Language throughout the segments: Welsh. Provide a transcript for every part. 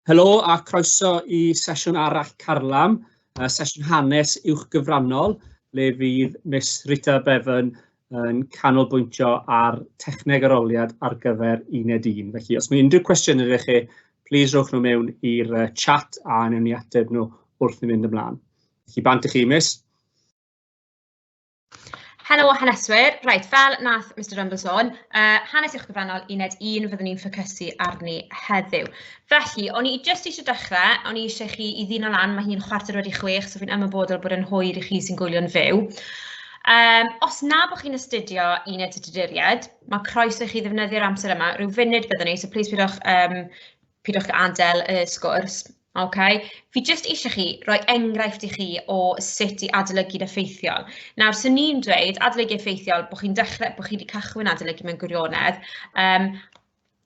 Helo a croeso i sesiwn arall Carlam, uh, sesiwn hanes uwch gyfrannol, le fydd Miss Rita Bevan yn canolbwyntio ar techneg aroliad ar gyfer uned 1. Felly, os mae unrhyw cwestiwn ydych chi, plis rhowch nhw mewn i'r chat a newn ni ateb nhw wrth i mynd ymlaen. Felly, bant i chi, mis. Helo haneswyr, reit, fel nath Mr Rumble sôn, uh, hanes i'ch gyfrannol uned 1 fyddwn ni'n ffocysu arni heddiw. Felly, o'n i jyst eisiau dechrau, o'n i eisiau chi i ddyn o lan, mae hi'n chwarter wedi chwech, so fi'n ymwybodol bod yn hwyr i chi sy'n gwylio'n fyw. Um, os na bod chi'n astudio uned y dyduriad, mae croeso i chi ddefnyddio'r amser yma, rhyw funud byddwn ni, so plis pidwch, um, pidwch adael y sgwrs. Ok, fi jyst eisiau chi roi enghraifft i chi o sut i adolygu'n effeithiol. Nawr, 'swn i'n dweud adolygu effeithiol bod chi'n dechrau... bod chi wedi cychwyn adolygu mewn gwirionedd, yym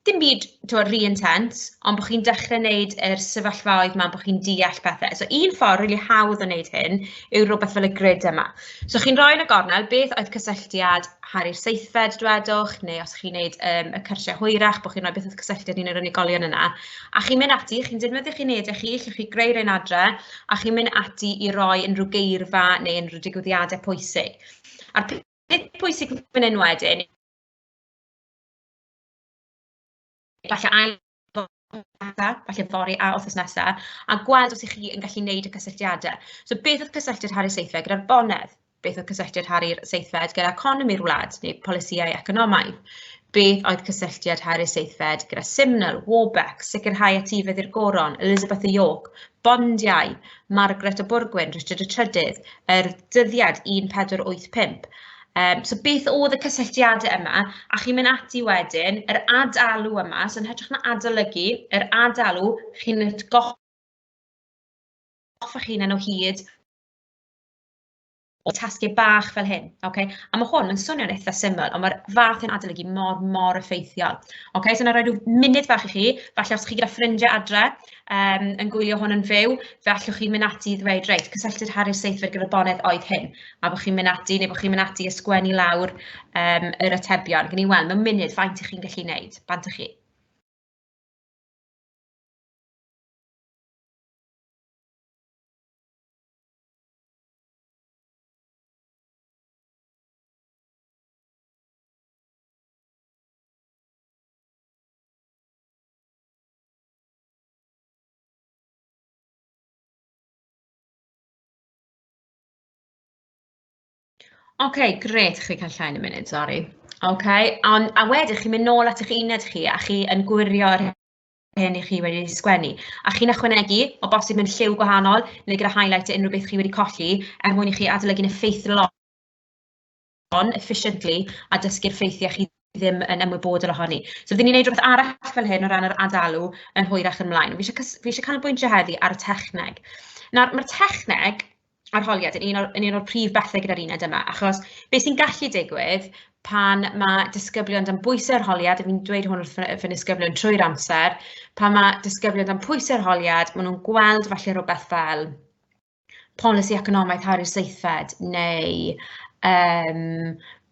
dim byd timod rhy intense, ond bod chi'n dechrau wneud yr sefyllfaoedd 'ma bod chi'n deall pethe. So un ffordd rili hawdd o wneud hyn yw rywbeth fel y grid yma. So chi'n rhoi yn y gornel beth oedd cysylltiad Harri'r seithfed dwedwch, neu os chi'n wneud yym y cyrsiau hwyrach bod chi'n rhoi beth oedd cysylltiad un o'r unigolion yna. A chi'n mynd ati, chi'n defnyddio chi'n unedau chi, chi'n gallu greu rhywun adre, a chi'n mynd ati i roi unrhyw geirfa neu unrhyw digwyddiadau pwysig. A'r peth pwysig fan hyn wedyn, falle ail falle fory a wythnos nesaf, a gweld os ych chi yn gallu wneud y cysylltiadau. So beth oedd cysylltiad Harri Seithfed gyda'r bonedd? Beth oedd cysylltiad Harri'r seithfed gyda economi'r wlad neu polisïau economaidd? Beth oedd cysylltiad Harri'r seithfed gyda Simnel, Warbeck, sicrhau etifedd i'r goron, Elizabeth y York, bondiau, Margaret y Bwrgwyn, Richard y Trydydd, yr dyddiad 1485. Um, so beth oedd y cysylltiadau yma, a chi'n mynd ati wedyn, yr ad-alw yma, so yn hytrach na adolygu, yr ad-alw, chi'n goffa chi'n enw hyd o tasgau bach fel hyn, okay? A mae hwn yn swnio'n eitha syml, ond mae'r fath yn adolygu mor, mor effeithiol. Okay? So, na roi rhyw munud bach i chi, falle os chi gyda ffrindiau adre um, yn gwylio hwn yn fyw, fe allwch chi mynd ati i ddweud, reit, cysylltu'r Harry Seithfed gyda'r bonedd oedd hyn, a bod chi'n mynd ati, neu bod chi'n mynd ati ysgwennu lawr um, yr atebion. Gwn i weld, mae'n munud, faint ych chi'n gallu gwneud, bant ych chi. Ok grêt chi'n cael llain yn munud sori. Ok a wedyn chi'n mynd nôl at eich uned chi a chi yn gwirio be hynny chi wedi sgwennu. A chi'n ychwanegu, o bosib mewn lliw gwahanol, neu gyda highlight unrhyw beth chi wedi colli, er mwyn i chi adolygu'n effeithlon, efficiently, a dysgu'r ffeithiau chi ddim yn ymwybodol ohoni. So byddwn ni'n gwneud rhywbeth arall fel hyn o ran yr adalu yn hwyrach ymlaen. Fi eisiau, fi eisiau canolbwyntio heddi ar y techneg. Nawr, mae'r techneg arholiad yn un o'r yn un o'r prif bethe gyda'r uned yma, achos be sy'n gallu digwydd pan ma' disgyblion dan bwyse arholiad, a fi'n dweud hwn wrth fy nisgyblion trwy'r amser, pan ma' disgyblion dan pwyse arholiad, ma' nhw'n gweld falle rwbeth fel polisi economaidd Harri Seithfed neu yym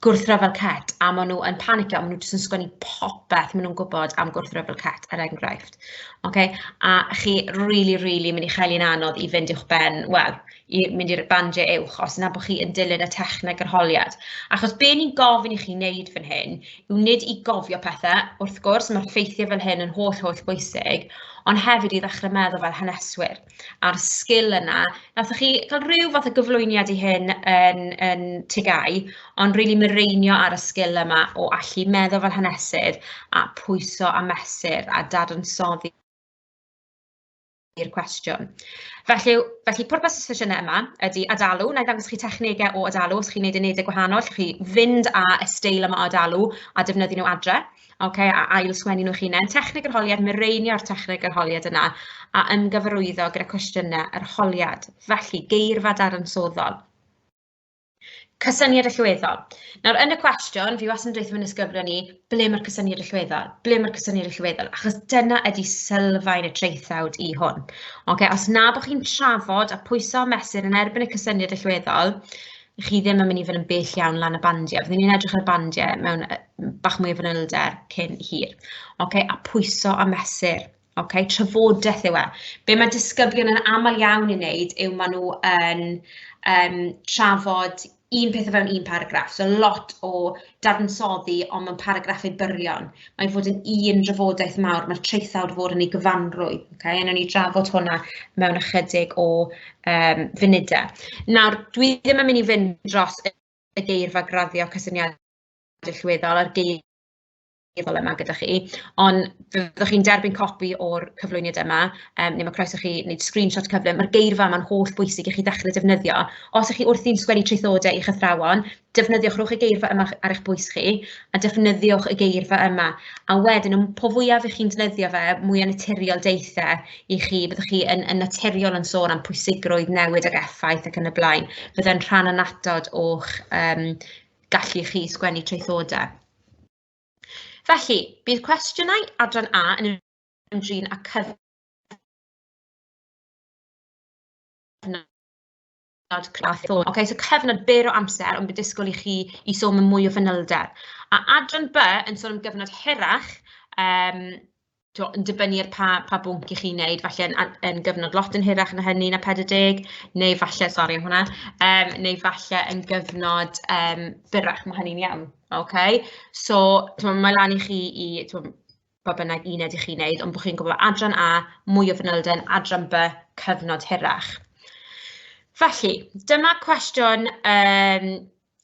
gwrthryfel cet a maen nhw yn panicio, maen nhw jyst yn sgwennu popeth maen nhw'n gwybod am gwrthryfel cet er enghraifft. Okay? A chi really, really mynd i chael un anodd i fynd i'ch ben, wel, i mynd i'r bandiau uwch os yna bod chi yn dilyn y techneg yr holiad. Achos be ni'n gofyn i chi wneud fan hyn yw nid i gofio pethau, wrth gwrs mae'r ffeithiau fel hyn yn holl, holl bwysig, ond hefyd i ddechrau meddwl fel haneswyr. a'r sgil yna. Nathoch chi cael rhyw fath o gyflwyniad i hyn yn yn TGAU, ond rili mireinio ar y sgil yma o allu meddwl fel hanesydd a pwyso a mesur a dadansoddi i'r cwestiwn. Felly felly pwrpas y sesiynau yma ydy adalu, wna i ddangos chi technegau o adalu, os chi'n wneud unedau gwahanol, allwch chi fynd â y steil yma o adalu a defnyddio nhw adre. okay, a ail sgwennu nhw'ch hunain, techneg yr holiad, mireinio'r techneg yr holiad yna a ymgyfarwyddo gyda cwestiynau yr holiad, felly geirfa dadansoddol. Cysyniad allweddol. Nawr, yn y cwestiwn, fi wastad yn dweud yn ysgrifennu ni, ble mae'r cysyniad allweddol? Ble mae'r cysyniad allweddol? Achos dyna ydy sylfaen y traethawd i hwn. Okay, os na bod chi'n trafod a pwyso a mesur yn erbyn y cysyniad allweddol, chi ddim yn mynd i fod yn bell iawn lan y bandiau. Fyddwn ni'n edrych ar bandiau mewn bach mwy o fanylder cyn hir. Okay? A pwyso a mesur. Okay? Trafodaeth yw e. Be mae disgyblion yn aml iawn yn wneud yw maen nhw yn um, trafod un peth o fewn un paragraff. So lot o dadansoddi ond mewn paragraffau byrion. Mae'n fod yn un drafodaeth mawr, mae'r traethawd fod yn ei gyfanrwy. Okay? Yn ni drafod hwnna mewn ychydig o um, funudau. Nawr, dwi ddim yn mynd i fynd dros y geirfa graddio cysyniadau llwyddol a'r geirfa meddwl yma gyda chi, ond fyddwch chi'n derbyn copi o'r cyflwyniad yma, um, neu mae croeso chi wneud screenshot cyflym, mae'r geirfa yma'n holl bwysig i chi ddechrau defnyddio. Os ych chi wrthi'n sgwennu traethodau i'ch athrawon, defnyddiwch rhwch y geirfa yma ar eich bwys chi, a defnyddiwch y geirfa yma. A wedyn, y po fwyaf ych chi'n defnyddio fe, mwy o naturiol deithiau i chi, byddwch chi yn, yn naturiol yn sôn am pwysigrwydd newid ag effaith ac yn y blaen. Byddai'n rhan anatod o'ch um, gallu chi sgwennu traethodau. Felly, bydd cwestiynau adran A yn ymdrin â cyfnod Okay, so cyfnod byr o amser, ond bydd disgwyl i chi i sôn mewn mwy o fanylder. A adran B yn sôn am gyfnod hirach, um, tibod, yn dibynnu ar pa pa bwnc 'y chi'n wneud, falle yn a- yn gyfnod lot yn hirach na hynny na 40, neu falle, sori am hwnna, yym neu falle yn gyfnod yym byrrach, ma' hynny'n iawn, ok? So timod ma' lan i chi i timod pa bynnag uned 'y chi'n wneud, ond bod chi'n gwybod adran A, mwy o fanylder, adran B, cyfnod hirach. Felly, dyma cwestiwn yym...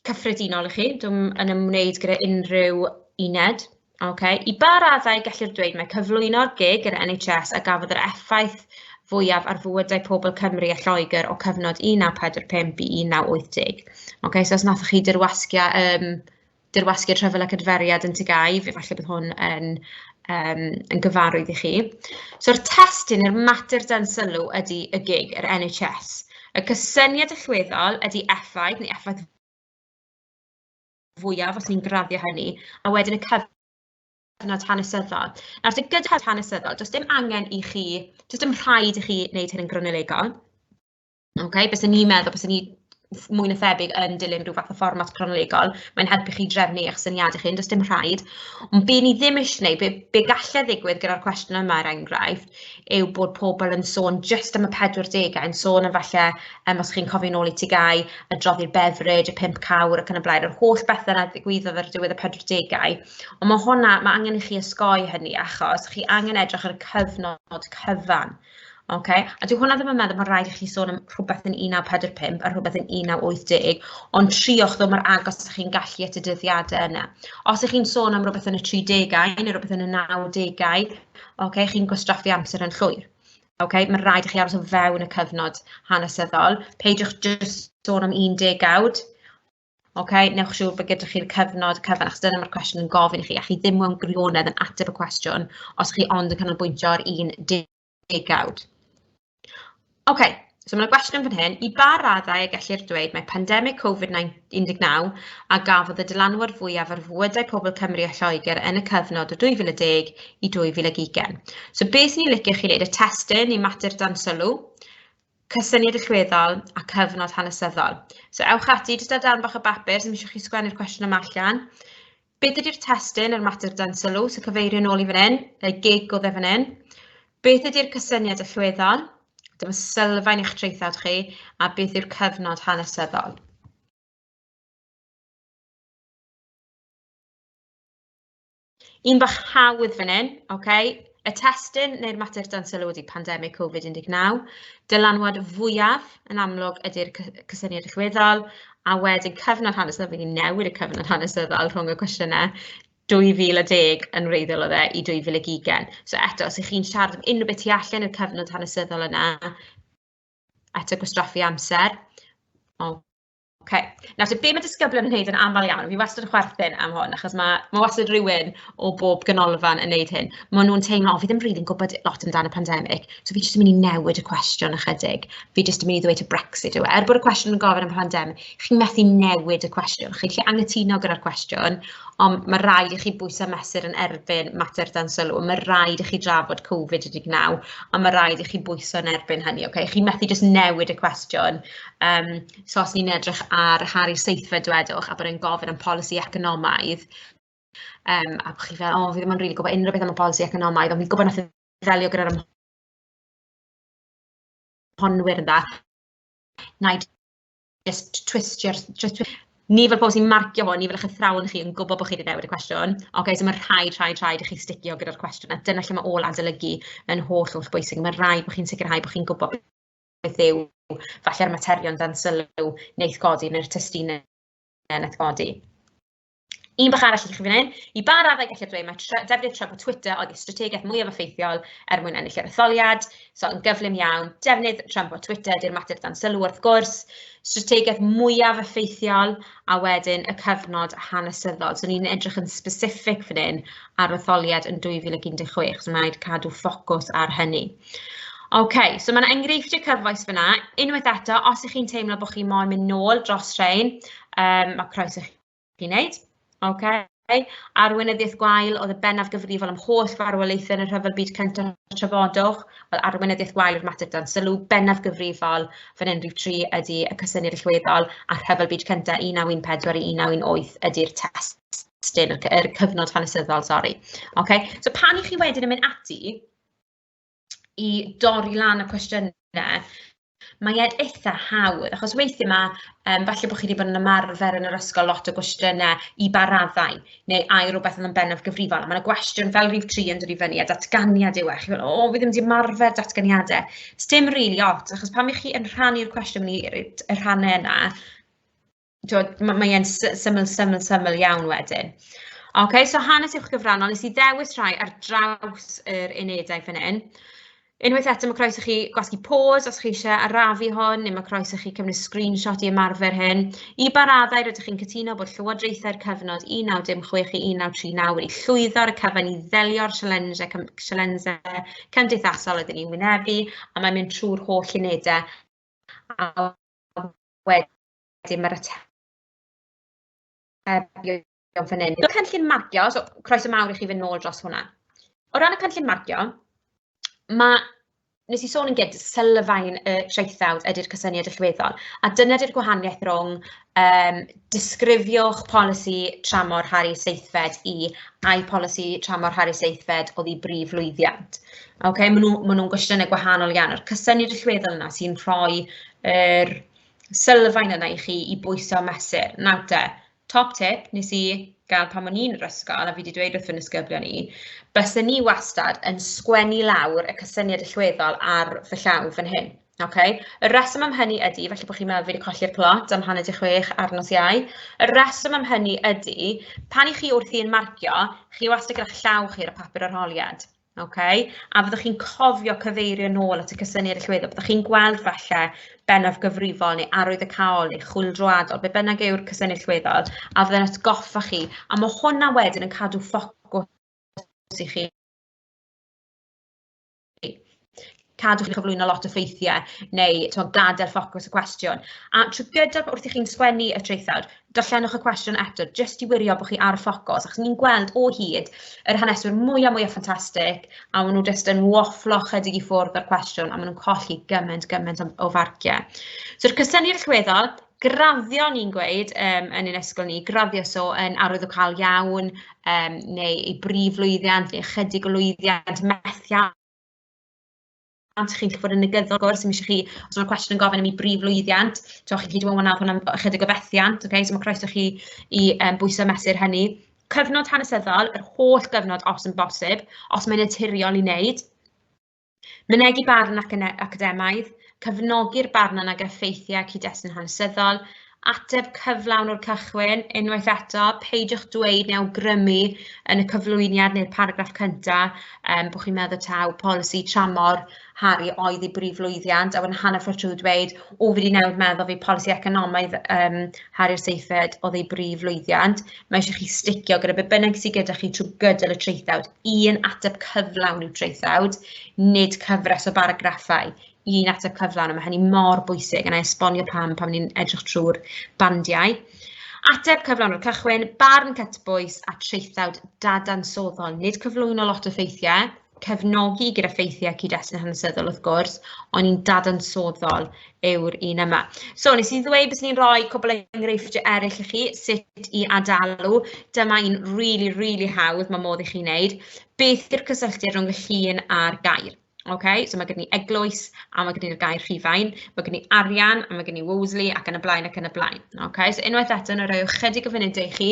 cyffredinol i chi, dwi'n yn ymwneud gyda unrhyw uned. Okay. I ba raddau gellir dweud mae cyflwyno'r gig yr NHS a gafodd yr effaith fwyaf ar fywydau pobl Cymru a Lloegr o cyfnod 1945 i 1980. Okay, so os nathoch chi dirwasgia, um, dirwasgiad rhyfel ac adferiad yn Tygau, efallai bydd hwn yn um, yn gyfarwydd i chi. So'r testyn i'r mater dan sylw ydy y gig, yr NHS. Y cysyniad allweddol ydy effaith neu effaith fwyaf os ni'n graddio hynny, a wedyn y cyfnod hanesyddol. Nawr, sy'n gyda hanesyddol, does dim angen i chi, does dim rhaid i chi wneud hyn yn gronolegol. Okay? Bys ni'n meddwl, bys ni mwy na thebyg yn dilyn rhyw fath o fformat cronolegol, mae'n helpu chi drefnu eich syniadau chi, does dim rhaid. Ond be ni ddim eisiau gwneud, be, be gallai ddigwydd gyda'r cwestiwn yma er enghraifft, yw bod pobl yn sôn jyst am y 40au, yn sôn am falle, um, os chi'n cofio'n ôl i ti gau, y droddi'r beverage, y pimp cawr ac yn y blaen, yr holl bethau yna ddigwyddodd ar diwedd y 40au. Ond mae hwnna, mae angen i chi ysgoi hynny achos chi angen edrych ar y cyfnod cyfan. Ok, a dyw hwnna ddim yn meddwl bod rhaid i chi sôn am rhywbeth yn 1945 a rhywbeth yn 1980, ond triwch ddod mor agos â chi'n gallu at y dyddiadau yna. Os ych chi'n sôn am rhywbeth yn y 30au neu rhywbeth yn y 90au, ok, chi'n gwastraffu amser yn llwyr. Ok, mae'n rhaid i chi aros o fewn y cyfnod hanesyddol. Peidiwch jyst sôn am 10 awd, Ok, newch siŵr bod gyda chi'r cyfnod cyfan, achos dyna mae'r cwestiwn yn gofyn i chi, a chi ddim mewn gwirionedd yn ateb y cwestiwn os chi ond yn canolbwyntio ar un degawd. Ok, so mae'n gwestiwn fan hyn, i ba raddau y gellir dweud mae pandemig Covid-19 a gafodd y dylanwad fwyaf ar fywydau pobl Cymru a Lloegr yn y cyfnod o 2010 i 2020. So beth sy'n ni'n licio chi wneud, y testyn i mater dan sylw, cysyniad allweddol a cyfnod hanesyddol. So ewch ati, jyst ar darn bach o bapur, sy'n eisiau chi sgwennu'r cwestiwn yma allan. Beth ydy'r testyn, yr mater dan sylw, sy'n cyfeirio nôl i fan hyn, y gig o dde fan hyn? Beth ydy'r cysyniad allweddol? Dyma sylfaen eich traethawd chi, a beth yw'r cyfnod hanesyddol? Un bach hawdd fan hyn, okay? Y testun neu'r mater dan sylw ydy pandemig Covid-19. Dylanwad fwyaf yn amlwg ydy'r cysyniad rhywbeddol, a wedyn cyfnod hanesyddol, fi wedi newid y cyfnod hanesyddol rhwng y cwestiynau 2010 yn wreiddiol o dde i 2020. So eto, os ych chi'n siarad am unrhyw beth tu allan i'r cyfnod hanesyddol yna, eto gwastraffu amser. O, Oce, nawr te be ma' disgyblion yn neud yn amal iawn, fi wastad yn chwerthin am hwn achos ma' ma' wastad rywun o bob ganolfan yn neud hyn, ma' nhw'n teimlo o fi ddim rili'n gwbod lot amdan y pandemig, so fi jyst yn mynd i newid y cwestiwn ychydig, fi jyst yn mynd i ddweud ta Brexit yw e, er bod y cwestiwn yn gofyn am y pandemig, chi'n methu newid y cwestiwn, chi'n gallu angytuno gyda'r cwestiwn, ond ma' raid i chi bwyso mesur yn erbyn mater dan sylw, ma' raid i chi drafod Covid-19, a ma' raid i chi bwyso yn erbyn hynny, oce, chi'n methu jyst newid y cwestiwn, yym, So os ni'n edrych ar Harry Seithfed dwedwch a bod e'n gofyn am polisi economaidd, um, a bod chi fel, o, oh, fi ddim yn rili really gwybod unrhyw beth am y polisi economaidd, ond fi'n gwybod nath e ddelio gyda'r ymhonwyr yn dda. Na just twistio, just twistio. Ni fel pobl sy'n marcio hwn, ni fel eich athrawon chi yn gwybod bod chi wedi newid y cwestiwn. Oce, okay, so mae rhaid, rhaid, rhaid i chi sticio gyda'r cwestiwn. A dyna lle mae ôl adolygu yn holl, holl bwysig. Mae rhaid bod chi'n sicrhau bod chi'n gwybod beth yw falle'r materion dan sylw wneith godi neu'r testunau wneith godi. Un bach arall i chi fan hyn, i ba raddau gallu dweud mae tre, defnydd trefn Twitter oedd y strategaeth mwyaf effeithiol er mwyn ennill yr etholiad, so yn gyflym iawn, defnydd trefn Twitter di'r mater dan sylw wrth gwrs, strategaeth mwyaf effeithiol, a wedyn y cyfnod hanesyddol. So ni'n edrych yn specific fan hyn ar etholiad yn 2016, so mae'n rhaid cadw ffocws ar hynny. OK, so mae'n enghreifftiau cyfoes fyna. Unwaith eto, os ych chi'n teimlo bod chi moyn mynd nôl dros rhain, um, mae croeso chi'n neud. OK. Arweinyddiaeth Gwael oedd y bennaf gyfrifol am holl farwolaethau yn y Rhyfel Byd Cyntaf a Trafodwch, wel, Arweinyddiaeth Gwael yw'r mater dan sylw, bennaf gyfrifol fan hyn rhif 3 ydy y cysyniad allweddol a Rhyfel Byd Cyntaf 1914 i 1918 ydy'r testun, yr cyfnod hanesyddol, sori. Okay. So pan i chi wedyn yn mynd ati i dorri lan y cwestiynau, mae e'n eitha hawdd, achos weithiau mae, um, falle bod chi wedi bod yn ymarfer yn yr ysgol lot o gwestiynau i ba raddau, neu ai rhywbeth yn bennaf gyfrifol, a mae'n y gwestiwn fel rhyw tri yn dod i fyny, a datganiad yw e, chi'n meddwl, o, fi ddim wedi ymarfer datganiadau. Does dim rili really ots, achos pan ych chi yn rhannu'r cwestiwn i y rhannau yna, Dod, ma' mae e'n sy- syml syml syml iawn wedyn. Ok, so hanes uwch gyfrannol, nes i ddewis rhai ar draws yr unedau fan hyn. Unwaith eto, mae croes i chi gwasgu pause os chi eisiau arafu hon, neu mae croes i chi cymryd screenshot i ymarfer hyn. I ba raddau rydych chi'n cytuno bod llywodraethau'r cyfnod 1916 i 1939 wedi llwyddo ar y cyfan i ddelio'r sialensau cym- sialensau cymdeithasol ydyn ni'n wynebu, a mae'n mynd trwy'r holl unedau a wedyn wedyn mae'r atebion fan hyn. Mae'r cynllun marcio, so croeso mawr i chi fynd nôl dros hwnna. O ran y cynllun marcio, mae nes i sôn yn gyd, sylfaen y traethawd ydy'r cysyniad allweddol. A dyna ydy'r gwahaniaeth rhwng um, disgrifiwch polisi tramor Harry Seithfed i ai polisi tramor Harry Seithfed oedd i brif lwyddiant. Okay, maen nhw'n nhw, ma nhw gwestiynau gwahanol iawn. A'r cysyniad allweddol yna sy'n rhoi yr er, sylfaen yna i chi i bwyso a mesur. Nawr te, top tip nes i gael pan o'n i'n yr ysgol a fi 'di dweud wrth fy nisgyblion i, bysen ni wastad yn sgwennu lawr y cysyniad allweddol ar fy llaw fan hyn. Oce? Y rheswm am hynny ydy, falle bod chi'n meddwl fi 'di colli'r plot am hanner 'di chwech ar nos Iau, y rheswm am hynny ydy, pan 'y chi wrthi yn marcio, chi wastad gyda llaw chi ar y papur arholiad. OK, a fyddwch chi'n cofio cyfeirio nôl at y cysyniad allweddol, byddwch chi'n gweld falle bennaf gyfrifol neu arwydd y caol neu chwyldroadol, be bynnag yw'r cysyniad allweddol, a fydde'n atgoffa chi, a mae hwnna wedyn yn cadw ffocws i chi cadw chi'n cyflwyno lot o ffeithiau neu tibod gadael ffocws y cwestiwn. A trwy gydol wrth i chi'n sgwennu y traethawd, darllenwch y cwestiwn eto jyst i wirio bod chi ar y ffocws achos ni'n gweld o hyd yr haneswyr mwyaf mwyaf ffantastig a maen nhw jyst yn wafflo chydig i ffwrdd o'r cwestiwn a maen nhw'n colli gymaint gymaint o farciau. So'r cysyniad allweddol, graddio ni'n gweud um, yn ein ysgol ni, graddio so yn arwydd o cael iawn um, neu ei brif lwyddiant neu ychydig o lwyddiant methiant pam 'sech chi'n licio bod yn negyddol gwrs, mi eisiau chi, os yna cwestiwn yn gofyn am ei brif lwyddiant, so chi'n gallu dweud, hwnna ychydig o fethiant, okay? so mae croeso chi i um, bwyso mesur hynny. Cyfnod hanesyddol, yr holl gyfnod os yn bosib, os mae'n naturiol i wneud. Mynegi barn ac academaidd, cefnogi'r barn yna ag effeithiau cyd-destun hanesyddol, ateb cyflawn o'r cychwyn, unwaith eto, peidiwch dweud neu awgrymu yn y cyflwyniad neu'r paragraff cyntaf um, bod chi'n meddwl taw polisi tramor Harry oedd ei brif lwyddiant, a wedyn hanner ffordd trwy dweud, o fi wedi newid meddwl fi polisi economaidd um, Harry Seithfed oedd ei brif lwyddiant, mae eisiau chi sticio gyda beth bynnag sydd gyda chi trwy gydol y traethawd. un ateb cyflawn i'w traethawd, nid cyfres o baragraffau, un ateb cyflawn, a mae hynny mor bwysig, yna esbonio pam pan ni'n edrych trwy'r bandiau. Ateb cyflawn o'r cychwyn, barn cytbwys a traethawd dadansoddol, nid cyflwyno lot o ffeithiau, cefnogi gyda ffeithiau cyd-destun hanesyddol wrth gwrs, ond ni'n dadansoddol yw'r un yma. So, nes i ddweud bys ni'n rhoi cwbl o enghreifftiau eraill i chi, sut i adalu. Dyma un rili, rili hawdd mae modd i chi wneud. Beth yw'r cysylltiad rhwng y llun a'r gair? Ok, so mae gen i eglwys a mae gen i'r gair rhifau, mae gen i arian a mae gen i Wolseley ac yn y blaen ac yn y blaen. Ok, so unwaith eto, na roi ychydig o funudau i chi,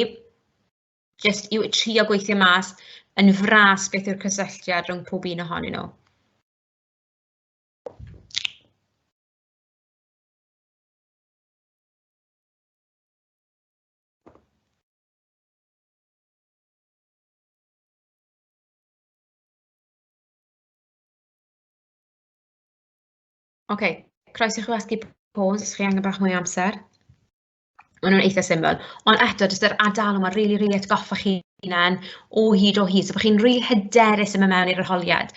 jyst i trio gweithio mas yn fras beth yw'r cysylltiad rhwng pob un ohonyn nhw. Ok, croeso i chi wasgu pause os chi angen bach mwy o amser. Maen nhw'n eitha' syml, ond eto jyst yr ardaloedd 'ma rili rili atgoffa chi hunan o hyd o hyd, so bod chi'n rili hyderus yn mynd mewn i'r arholiad.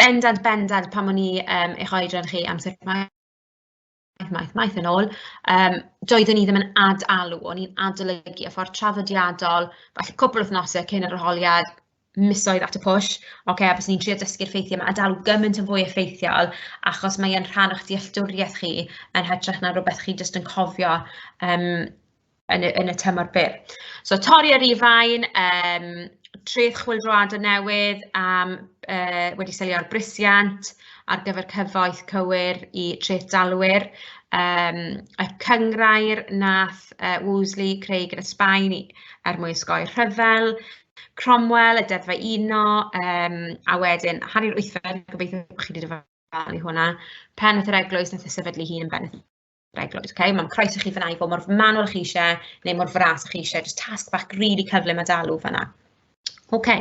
Bendant bendant pan o'n i yym eich oedran chi amser maith maith maith yn ôl yym doeddwn i ddim yn ad-alw, o'n i'n adolygu y ffordd traddodiadol, falle cwpl o wythnosau cyn yr arholiad, misoedd at y pwll, ocê, fyswn i'n trio dysgu'r ffeithiau 'ma a dal gymaint yn fwy effeithiol, achos mae e'n rhan o'ch dealltwriaeth chi, yn hytrach na rywbeth chi jyst yn cofio yym yn y yn y tymor byr. So torri ar rif rain, yym treth chwyldroadau newydd am yy wedi selio ar brisiant ar gyfer cyfoeth cywir i treth dalwyr, yym y cynghrair nath yy Wolseley creu gyda Sbaen i er mwyn osgoi rhyfel. Cromwell, y Deddfau Uno, um, a wedyn Harri'r Wythfed, gobeithio bod chi wedi dyfalu hwnna, pen at yr eglwys nath y sefydlu hun yn beneth yr eglwys. Okay? Mae'n croes i chi fyna i fod mor manwl chi eisiau neu mor fras chi eisiau, just tasg bach rili really cyflym a dalw fyna. OK,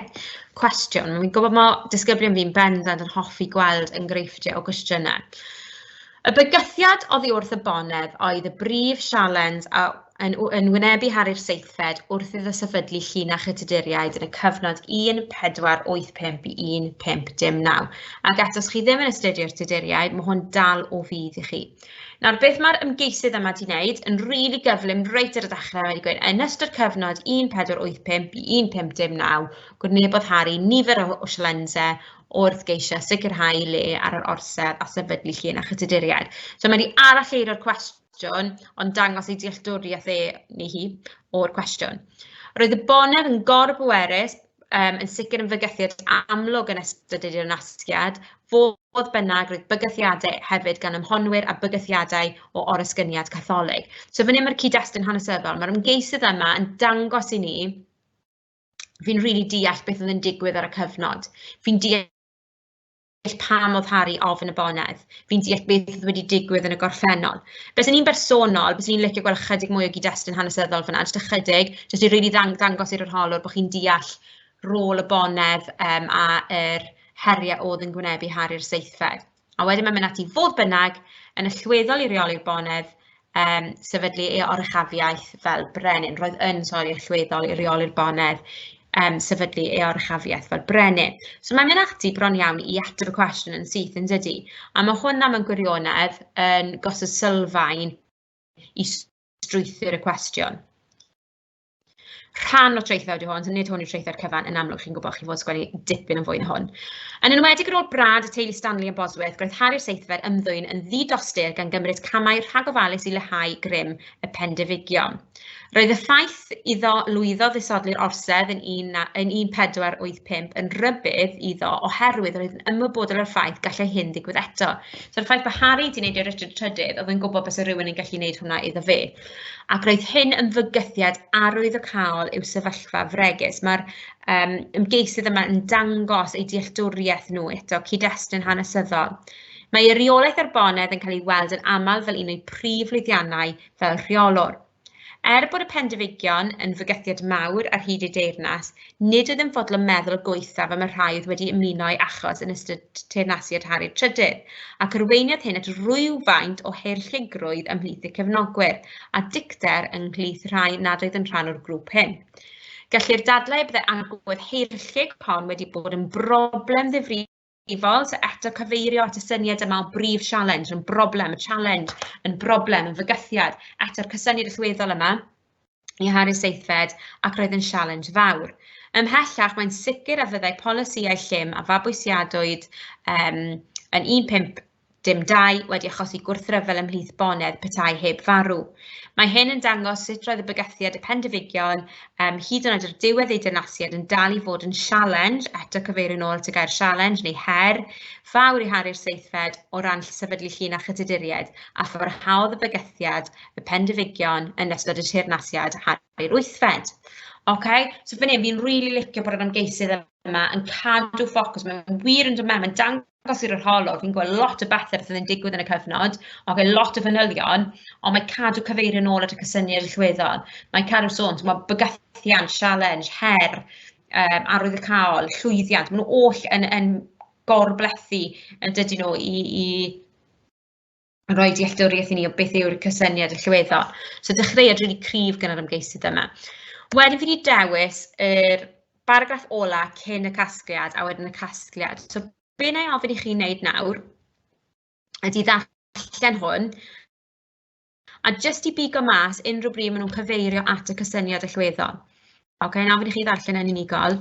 cwestiwn. Mi'n gwybod mae disgyblion fi'n bendant yn hoffi gweld enghreifftiau o gwestiynau. Y bygythiad oddi wrth y bonedd oedd y brif sialens a yn, yn wynebu har i'r seithfed wrth iddo sefydlu llinach y Tuduriaid yn y cyfnod 1485 i 1519. Ac eto, chi ddim yn astudio'r Tuduriaid, mae hwn dal o fydd i chi. Nawr, beth mae'r ymgeisydd yma wedi wneud yn rili really gyflym reit ar y dechrau, wedi gweud, yn ystod cyfnod 1485 i 1519, gwrnebodd Harry nifer o, o silense wrth geisio sicrhau le ar yr orsedd a sefydlu llun a chytuduriaid. So mae wedi aralleiro'r cwestiwn cwestiwn, ond dangos ei dealltwriaeth e neu hi o'r cwestiwn. Roedd y bonedd yn gorbwerus, um, yn sicr yn fygythiad amlwg yn ystod yr nasgiad, fodd bynnag roedd bygythiadau hefyd gan ymhonwyr a bygythiadau o orysgyniad catholig. So fan hyn mae'r cyd-destun hanesyddol, mae'r ymgeisydd yma yn dangos i ni fi'n rili really deall beth oedd yn digwydd ar y cyfnod. Fi'n deall deall pam oedd Harri ofn y bonedd, fi'n deall beth oedd wedi digwydd yn y gorffennol. Beth yn un bersonol, beth ni'n licio gweld chydig mwy o gyd-destun hanesyddol fyna, jyst ychydig, jyst i rili ddang- dangos i'r arholwr bod chi'n deall rôl y bonedd um, a yr heriau oedd yn gwynebu Harri'r seithfed. A wedyn mae'n mynd ati fodd bynnag yn y llweddol i reoli'r bonedd um, sefydlu ei oruchafiaeth fel brenin. Roedd yn, sori, allweddol i reoli'r bonedd um, sefydlu ei oruchafiaeth fel brenin. So mae'n mynd ati bron iawn i ateb y cwestiwn yn syth yn dydy. A mae hwnna mewn gwirionedd yn gosod sylfaen i strwythyr y cwestiwn. rhan o traethau ydy hwn, so nid hwn yw traethau'r cyfan, yn amlwg chi'n gwybod chi fod sgwennu dipyn yn fwy na hwn. Yn enwedig ar ôl brad y teulu Stanley yn Bosworth, gweithharu'r seithfer ymddwyn yn ddi-dostyr gan gymryd camau rhagofalus i lehau grym y pendefigion. Roedd y ffaith iddo lwyddo ddisodli'r orsedd yn, un, yn 1485 yn rybydd iddo oherwydd roedd yn ymwybodol o'r ffaith gallai hyn ddigwydd eto. So'r ffaith bod Harry wedi gwneud i'r Richard Trydydd, oedd yn gwybod bys rhywun yn gallu gwneud hwnna iddo fe. ac roedd hyn yn fygythiad arwyddocaol i'w sefyllfa fregus. Mae'r um, ymgeisydd yma yn dangos ei dealltwriaeth nhw eto, cyd-destun hanesyddol. Mae ei reolaeth ar bonedd yn cael ei weld yn aml fel un o'i prif lwyddiannau fel rheolwr. Er bod y Pendifigion yn fygythiad mawr ar hyd ei deyrnas, Nid ydym fodlon meddwl y gwaethaf am y rhai oedd wedi ymuno â'i achos yn ystod teyrnasiad Harri'r Trydydd, ac arweiniodd hyn at rywfaint o heirllugrwydd ymhlith y cefnogwyr, a dicter ymhlith rhai nad oedd yn rhan o'r grŵp hyn. Gellir dadlau y byddai agwedd heirllug hon wedi bod yn broblem ddifrifol i fod, so eto cyfeirio at y syniad yma o brif sialens, yn broblem, y sialens, yn broblem, yn fygythiad, eto'r cysyniad allweddol yma i Harry Seithfed ac roedd yn sialens fawr. Ymhellach, mae'n sicr a fyddai polisïau llym a fabwysiadwyd um, yn 15 Dim dau wedi achosi gwrthryfel ymhlith bonedd petai heb farw. Mae hyn yn dangos sut roedd y bygythiad y Pendifigion, um, hyd yn oed ar diwedd ei dynasiad, yn dal i fod yn sialens, eto cyfeirio'n ôl at y gair sialens neu her, fawr i haru'r seithfed o ran sefydlu llun a chyduduriaid, a pharhaodd y bygythiad y Pendifigion yn ystod y teyrnasiad haru'r wythfed. Okay? So fan hyn, fi'n rili really licio bod yr ymgeisydd yma yn cadw ffocws, mae'n wir yn dod mewn, mae'n dangos agos i'r arholwg, fi'n gweld lot o bethe sydd yn digwydd yn y cyfnod, ok, lot o fanylion, ond mae cadw cyfeirio nôl at y cysyniad allweddol. Mae cadw sôn, mae bygythiant, sialens, her, um, arwyddocaol, llwyddiant, maen nhw oll yn, yn gorblethu yn dydyn nhw i, i roi dealltwriaeth i ni o beth yw'r cysyniad allweddol. So dechreuad rili cryf gan yr ymgeisydd yma. Wedyn fi wedi dewis yr baragraff ola cyn y casgliad a wedyn y casgliad. So be na i ofyn i chi wneud nawr ydy ddarllen hwn a jyst i bigo mas unrhyw bryd maen nhw'n cyfeirio at y cysyniad allweddol. Oce, okay, na ofyn i chi ddarllen yn unigol.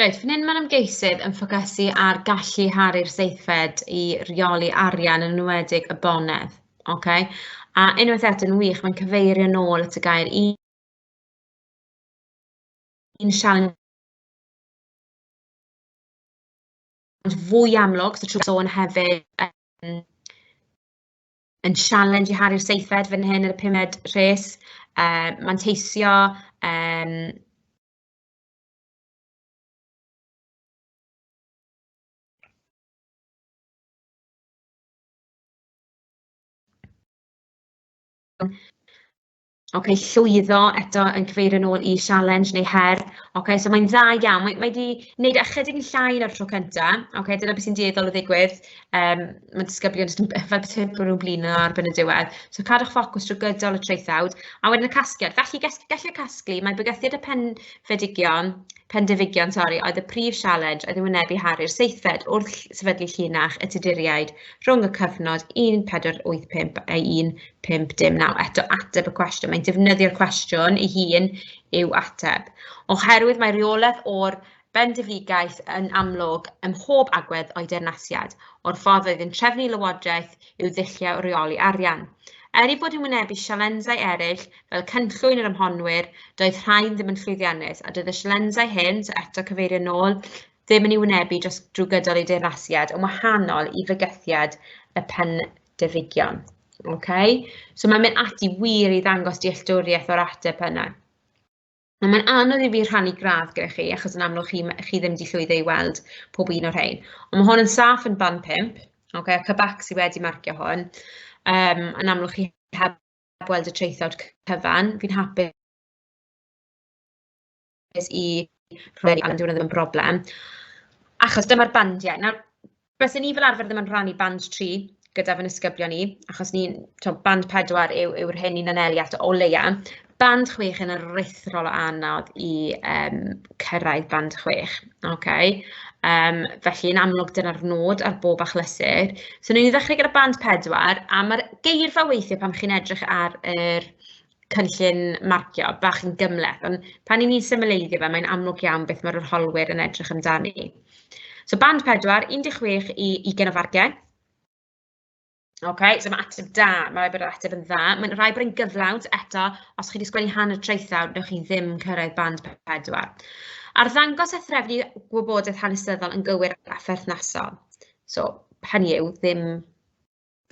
Reit, fan hyn mae'r ymgeisydd yn ffocysu ar gallu Hari'r seithfed i reoli arian yn enwedig y bonedd. Okay? A unwaith eto'n wych, mae'n cyfeirio nôl at y gair un, un sialens ond fwy amlwg, so trwy sôn hefyd yn yn sialens i Harri'r Seithfed fan hyn yn y pumed rhes, uh, manteisio, um, Ok llwyddo eto yn cyfeirio'n ôl i sialens neu her. Ok so mae'n dda iawn. Mae mae 'di wneud e ychydig yn llai na'r tro cynta. Ok dyna beth sy'n dueddol o ddigwydd yym ma' disgyblion jyst yn b- fel petai bod nhw'n blino ar ben y diwedd. So cadwch ffocws drwy gydol y traethawd a wedyn y casgliad. Felly ges- gellir casglu mae bygythiad y penfedigion pendefigion sori oedd y prif sialens oedd yn wynebu Harri'r seithfed wrth ll- sefydlu llinach y Tuduriaid rhwng y cyfnod 1485 a 1495. 5.9. Eto, ateb y cwestiwn. Mae'n defnyddio'r cwestiwn ei hun i'w ateb. Oherwydd mae reolaeth o'r bendifigaeth yn amlwg ym mhob agwedd o'i deyrnasiad, o'r ffordd oedd yn trefnu lywodraeth i'w ddulliau o reoli arian. Er ei bod yn wynebu sialensau eraill, fel cynllwyn yr ymhonwyr, doedd rhain ddim yn llwyddiannus, a doedd y sialensau hyn, so eto cyfeirio nôl, ddim yn ei wynebu dros drwy gydol ei deyrnasiad, yn wahanol i fygythiad y pen defigion. Okay? So mae'n mynd ati wir i ddangos dealltwriaeth o'r ateb yna. A mae'n anodd i fi rhannu gradd gyda chi, achos yn amlwg chi, chi ddim wedi llwyddo i weld pob un o'r rhain. Ond mae hwn yn saff yn ban 5, okay, a Cybac sydd wedi marcio hwn. Um, yn amlwg chi heb weld y traethawd cyfan, fi'n hapus cyfforddus i rywun ifanc, dyw e ddim yn broblem, achos dyma'r bandiau. Nawr, bysen ni fel arfer ddim yn rhannu band tri gyda fy nisgyblion i, achos ni'n, tibod, band pedwar yw yw'r hyn ni'n anelu at o leia. Band chwech yn aruthrol o anodd i yym cyrraedd band chwech, ok? Yym felly yn amlwg dyna'r nod ar bob achlysur. So wnewn ni ddechrau gyda band pedwar, a ma'r geirfa weithie pan chi'n edrych ar yr cynllun marcio bach yn gymleth, ond pan i ni'n symleiddio fe, mae'n amlwg iawn beth mae'r arholwyr yn edrych amdani. So band 4, 16 i 20 o farciau. Okay, so mae ateb da, mae rhaid bod yr ateb yn dda. Mae'n rhaid bod yn gyflawnt eto, os chi wedi sgwennu hanner traethawr, newch chi ddim cyrraedd band 4. Ar ddangos a threfnu gwybodaeth hanesyddol yn gywir a pherthnasol. So, hynny yw, ddim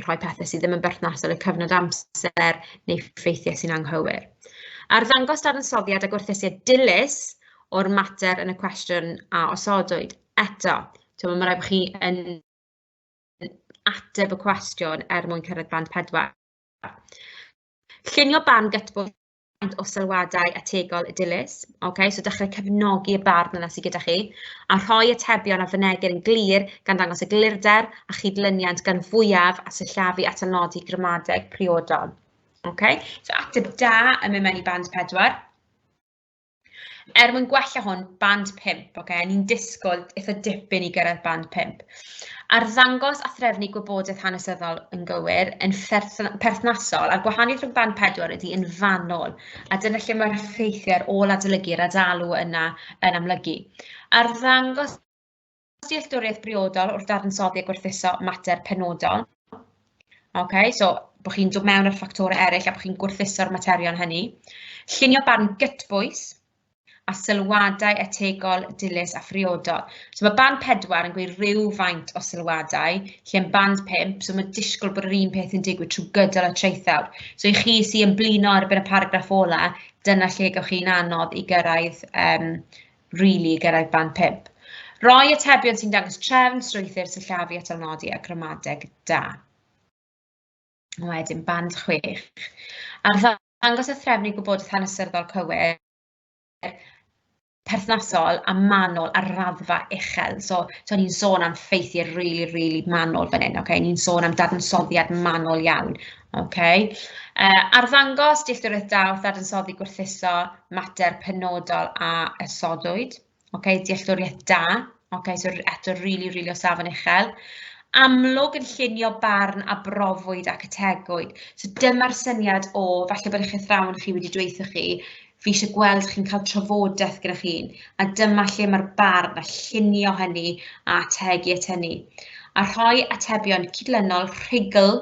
rhoi pethau sydd ddim yn berthnasol i'r cyfnod amser neu ffeithiau sy'n anghywir. Ar ddangos dadansoddiad a gwerthusiad dilys o'r mater yn y cwestiwn a osodwyd. Eto, mae rhaid bod chi yn ateb y cwestiwn er mwyn cyrraedd band pedwar. Llunio ban gytbwys faint o sylwadau ategol y dilys. Okay? So dechrau cefnogi y barn yna sydd gyda chi, a rhoi atebion a fynegir yn glir gan ddangos y glirder a chydlyniant gan fwyaf a syllafu at anodi gramadeg priodol. Okay? So ateb da yn mynd mewn i band pedwar. Er mwyn gwella hwn, band 5, oce, okay? ni'n disgwyl eitha dipyn i gyrraedd band 5. Arddangos a threfnu gwybodaeth hanesyddol yn gywir yn perthnasol a'r gwahaniaeth rhwng band 4 ydy yn fanol, a dyna lle mae'r effeithiau ar ôl adolygu'r adalw yna yn amlygu. Arddangos dealltwriaeth briodol wrth dadansoddi a gwerthuso mater penodol. Okay, so bod chi'n dod mewn ar ffactorau eraill a bod chi'n gwerthuso'r materion hynny. Llunio barn gytbwys a sylwadau etegol, dilys a phriodol. So mae band 4 yn gweud rhyw faint o sylwadau, lle yn band 5, so mae disgwyl bod yr un peth yn digwydd trwy gydol y traethawd. So i chi sy'n ymblino ar y paragraff ola, dyna lle gawch chi'n anodd i gyrraedd um, rili i gyrraedd band pump. Rhoi atebion sy'n dangos trefn, strwythur, sillafu a talnodi a gramadeg da. Wedyn band chwech. Ar ddangos a threfnu gwybodaeth hanesyddol cywir, perthnasol a manwl ar raddfa uchel. So, so ni'n sôn am ffeithiau rili, really, rili really manwl fan hyn, okay? ni'n sôn am dadansoddiad manwl iawn. Ok, arddangos dealltwriaeth da wrth ddadansoddi gwerthuso mater penodol a ysodwyd. Ok, dealltwriaeth da. Ok, so eto rili, rili o safon uchel. Amlwg yn llunio barn a brofwyd ac ategwyd. So dyma'r syniad o, falle bod eich athrawon chi wedi dweithio chi, fi eisiau gweld chi'n cael trafodaeth gyda chi, a dyma lle mae'r barn a llunio hynny a ategu at hynny. A rhoi atebion cydlynol rhugl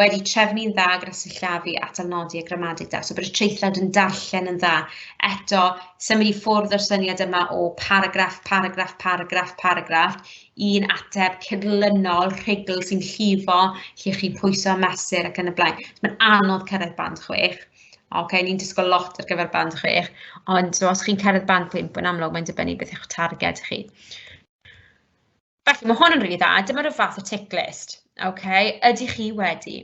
wedi trefnu'n dda gyda sillafu atal nodi a gramadeg da. So bod y traethlawd yn darllen yn dda. Eto, symud i ffwrdd o'r syniad yma o paragraff, paragraff, paragraff, paragraff, un ateb cyrlynol, rhugl sy'n llifo, lle chi'n pwyso a mesur ac yn y blaen. So mae'n anodd cyrraedd band chwech. Oce, okay, ni'n disgwyl lot ar gyfer band chwech, ond so os chi'n cyrraedd band pump, yn amlwg mae'n dibynnu beth yw'ch targed chi. Felly, mae hwn yn rili dda, dyma ryw fath o tick list, ok, ydych chi wedi?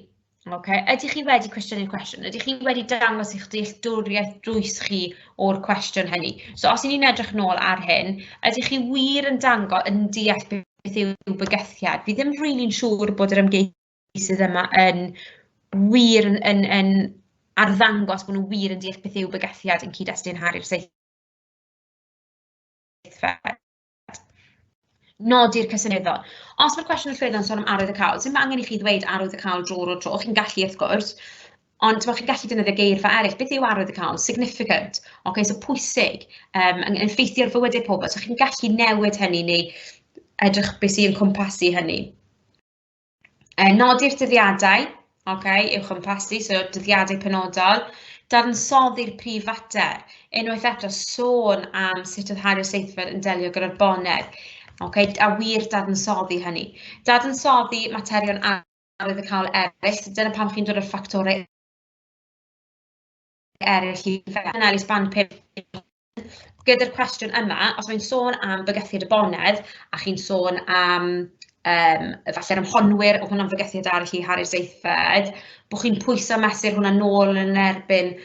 Ok, ydych chi wedi cwestiynu'r cwestiwn? Ydych chi wedi dangos eich dealltwriaeth drwys chi o'r cwestiwn hynny? So os y'n ni'n edrych nôl ar hyn, ydych chi wir yn dango yn deall beth yw bygythiad? Fi ddim rili'n really siŵr bod yr ymgeisydd yma yn wir yn, yn, yn arddangos bod nhw wir yn deall beth yw bygythiad yn cyd-destun Harry'r Seithfed. nodi'r cysyniadau. Os mae'r cwestiwn yn llwyddo yn sôn am arwydd y cawl, sy'n angen i chi ddweud arwydd y cawl drwy'r o'r tro, chi'n gallu wrth gwrs, ond mae chi'n gallu defnyddio geirfa eraill, beth yw arwydd y cawl, significant, oce, okay, so pwysig, um, yn effeithio'r fywydau pobl, so chi'n gallu newid hynny neu edrych beth sy'n cwmpasu hynny. E, nodi'r dyddiadau, okay, i'w chwmpasu, so dyddiadau penodol, dadansoddi'r prif fater, unwaith eto sôn am sut oedd Harry Seithfed yn delio gyda'r bonedd, okay, a wir dadansoddi hynny. Dadansoddi materion arwyddocaol eraill, dyna pam chi'n dod o'r ffactorau eraill i Fenna Elis Banpur gyda'r cwestiwn yma, os mae'n sôn am fygythiad y bonedd, a chi'n sôn am um, falle'r ymhonwyr o hwnna'n fygythiad arall i Harris Eithfed, bod chi'n pwyso mesur hwnna'n nôl yn erbyn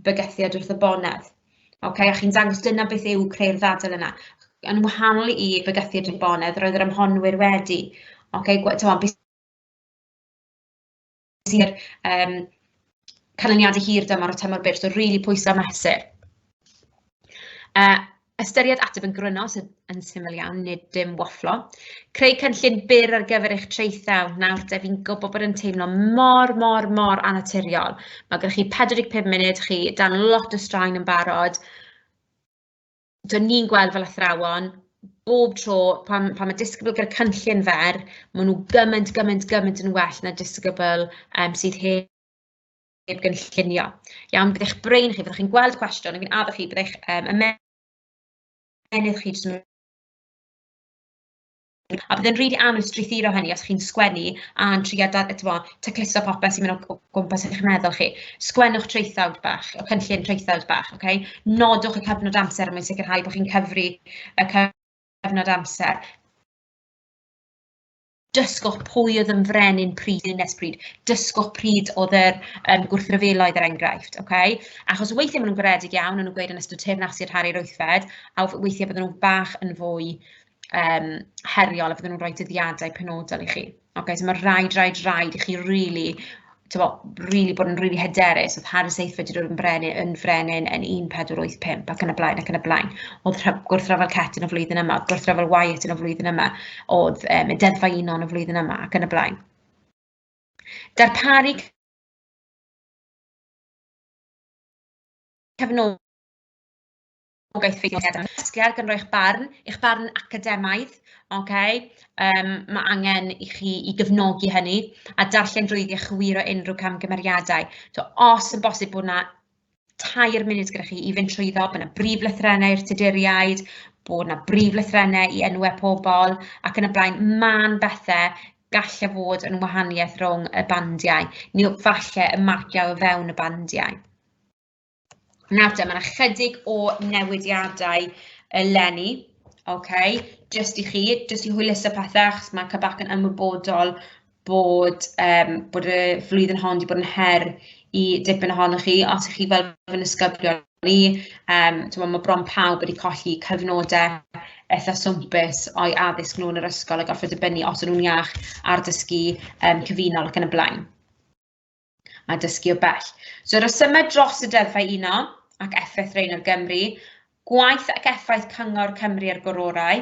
bygythiad wrth y bonedd. Okay, a chi'n dangos dyna beth yw creu'r ddadl yna. Yn wahanol i bygythiad y bonedd, roedd yr ymhonwyr wedi. Okay, gwed, sir um, canlyniadau hir dymor o tymor byr, so rili pwysau mesur. Uh, ystyried ateb yn gryno sydd yn syml iawn, nid dim wafflo. Creu cynllun byr ar gyfer eich traethau. Nawr, def i'n gwybod bod yn teimlo mor, mor, mor anaturiol. Mae gennych chi 45 munud, chi dan lot o straen yn barod. Dyn ni'n gweld fel athrawon, bob tro pan pan mae disgybl gyda cynllun fer, maen nhw gymaint, gymaint, gymaint yn well na disgybl yym sydd heb heb gynllunio. Iawn, bydd eich brain chi, byddwch chi'n gweld cwestiwn, a fi'n addo chi, bydd eich yym ymennydd chi jyst yn A bydd e'n rili anodd strwythuro hynny os chi'n sgwennu a'n trio da- tibod tacluso popeth sy'n mynd o gwmpas yn eich meddwl chi. Sgwennwch traethawd bach, y cynllun traethawd bach, ok? Nodwch y cyfnod amser mwyn sicrhau bod chi'n cyfri y cyfnod amser. Dysgwch pwy oedd yn frenin pryd yn nes pryd. Dysgwch pryd oedd yr um, gwrthryfeloedd er enghraifft, ok? Achos weithiau maen nhw'n goredig iawn, ond nhw'n gweud yn ystod teyrnasu rhari'r wythfed, a weithiau bydden nhw'n bach yn fwy um, heriol a fydden nhw'n rhoi dyddiadau penodol i chi. Okay, so mae rhaid, rhaid, rhaid i chi really tyfo, really bod yn really hyderus, oedd Harris Eifford wedi dod yn brenin, yn frenin yn 1485 ac yn y blaen ac yn y blaen. Oedd gwrthryfel Cet yn y flwyddyn yma, oedd gwrthryfel Wyatt yn y flwyddyn yma, oedd um, y deddfa uno yn y flwyddyn yma ac yn y blaen. Darparu cefnogaeth Gobeithio i gael casglu ar gynro eich barn, eich barn academaidd, ok? Um, mae angen i chi i gyfnogi hynny a darllen drwyddi a chywiro unrhyw camgymeriadau. So, os yn bosib bod yna tair munud gyda chi i fynd trwyddo, bod yna brif lythrennau i'r tuduriaid, bod yna brif lythrennau i enwau pobl ac yn y blaen, mae'n bethau gallai e fod yn wahaniaeth rhwng y bandiau, neu falle y marciau o fewn y bandiau. Nawr te, mae 'na chydig o newidiadau eleni, okay, jyst i chi, jyst i hwyluso pethe, achos mae CABAC yn ymwybodol bod yym bod y flwyddyn hon wedi bod yn her i dipyn ohonoch chi, os chi fel fy nisgyblion ni, yym timod ma' bron pawb wedi colli cyfnodau eitha' swmpus o'u addysg nhw yn yr ysgol a gorfod dibynnu os o'n nhw'n iach ar dysgu yym cyfunol ac yn y blaen. a dysgu o bell. So rhesymau dros y deddfau uno ac effaith rein ar Gymru, gwaith ac effaith Cyngor Cymru ar gororau,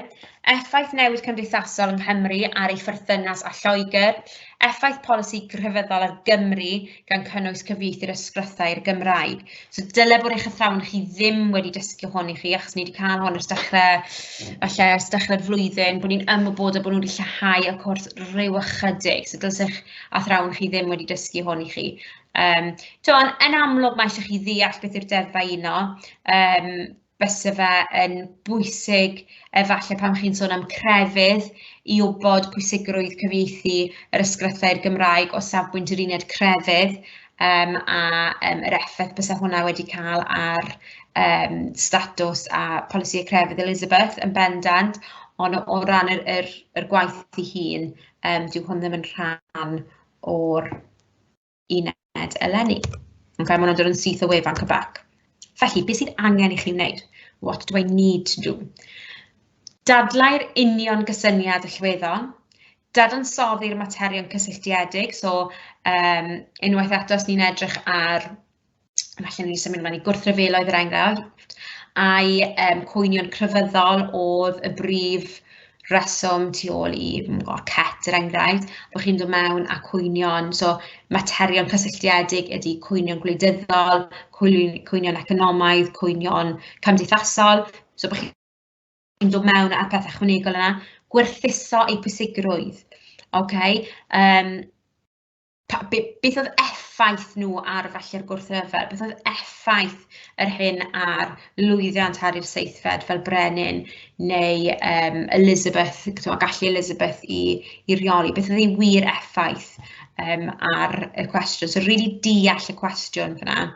effaith newid cymdeithasol yng Nghymru ar ei pherthynas a Lloegr, effaith polisi grefyddol ar Gymru gan cynnwys cyfieithu'r ysgrythau i'r Gymraeg. So dyle bod eich athrawon chi ddim wedi dysgu hwn i chi achos ni wedi cael hwn ers dechrau, falle ers dechrau'r flwyddyn, bod ni'n ymwybodol bod nhw wedi lleihau y cwrs rhyw ychydig. So dylsech athrawon chi ddim wedi dysgu hwn i chi. Um, to, yn, yn amlwg mae eisiau chi ddeall beth yw'r deddfau uno, um, fysa fe yn bwysig efallai pan chi'n sôn am crefydd i wybod pwysigrwydd cyfieithu yr ysgrifau Gymraeg o safbwynt yr uned crefydd um, a um, yr effaith bysa hwnna wedi cael ar um, statws a polisi y crefydd Elizabeth yn bendant, ond o, o ran yr, yr, yr gwaith i hun, um, dyw hwn ddim yn rhan o'r uned eleni. Okay, mae hwnna'n dod yn syth o wefan Cybac. Felly, beth sydd angen i chi wneud? What do I need to do? Dadlau'r union gysyniad allweddol, dadansoddi'r materion cysylltiedig, so um, unwaith eto os ni'n edrych ar felly ni'n symud ymlaen i gwrthryfeloedd yr enghraifft, a'i um, cwynion crefyddol oedd y brif reswm tu ôl i cet er enghraifft, bod chi'n dod mewn a cwynion, so materion cysylltiedig ydy cwynion gwleidyddol, cwynion economaidd, cwynion cymdeithasol, so bod chi'n dod mewn â'r peth ychwanegol yna, gwerthuso ei pwysigrwydd. Okay? Um, pa- be- beth oedd effaith nhw ar falle'r gwrthryfel, beth oedd effaith yr hyn ar lwyddiant ar i'r seithfed fel brenin neu um, Elizabeth, a gallu Elizabeth i, i reoli, beth oedd ei wir effaith um, ar y cwestiwn. So, really deall y cwestiwn fyna.